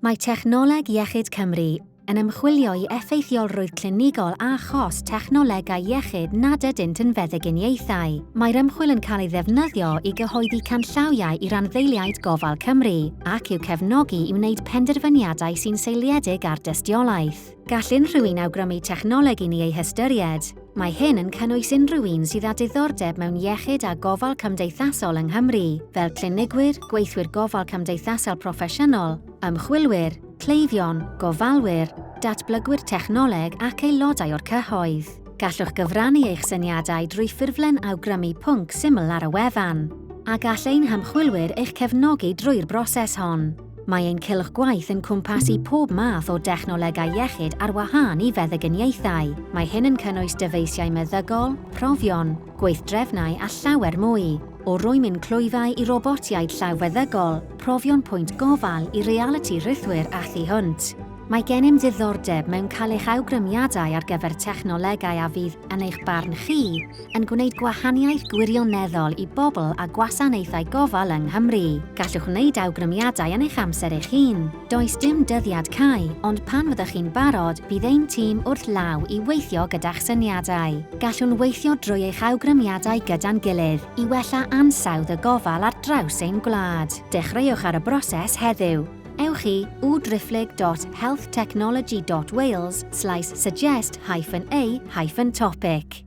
Mae Technoleg Iechyd Cymru yn ymchwilio i effeithiolrwydd clinigol a chos technolegau iechyd nad ydynt yn feddyginiaethau. Mae'r ymchwil yn cael ei ddefnyddio i gyhoeddi canllawiau i randdeiliaid gofal Cymru ac i'w cefnogi i wneud penderfyniadau sy'n seiliedig ar dystiolaeth. Gall unrhyw un awgrymu technoleg i ni ei hystyried. Mae hyn yn cynnwys unrhyw un sydd â diddordeb mewn iechyd a gofal cymdeithasol yng Nghymru, fel clinigwyr, gweithwyr gofal cymdeithasol proffesiynol, ymchwilwyr, cleifion, gofalwyr, datblygwyr technoleg ac aelodau o'r cyhoedd. Gallwch gyfrannu eich syniadau drwy ffurflen awgrymu pwnc syml ar y wefan, a gall ein hymchwilwyr eich cefnogi drwy'r broses hon. Mae ein cylch gwaith yn cwmpasu pob math o dechnolegau iechyd ar wahân i feddyginiaethau. Mae hyn yn cynnwys dyfeisiau meddygol, profion, gweithdrefnau a llawer mwy. O rwymyn clwyfau i robotiaid llaw feddygol, profion pwynt gofal i realiti rhithwir a thu hwnt. Mae gennym ddiddordeb mewn cael eich awgrymiadau ar gyfer technolegau a fydd, yn eich barn chi, yn gwneud gwahaniaeth gwirioneddol i bobl a gwasanaethau gofal yng Nghymru. Gallwch wneud awgrymiadau yn eich amser eich hun. Does dim dyddiad cau, ond pan fyddwch chi'n barod, bydd ein tîm wrth law i weithio gyda'ch syniadau. Gallwn weithio drwy eich awgrymiadau gyda'n gilydd i wella ansawdd y gofal ar draws ein gwlad. Dechreuwch ar y broses heddiw. Ewch i www.healthtechnology.wales slaes suggest hyphen a hyphen topic.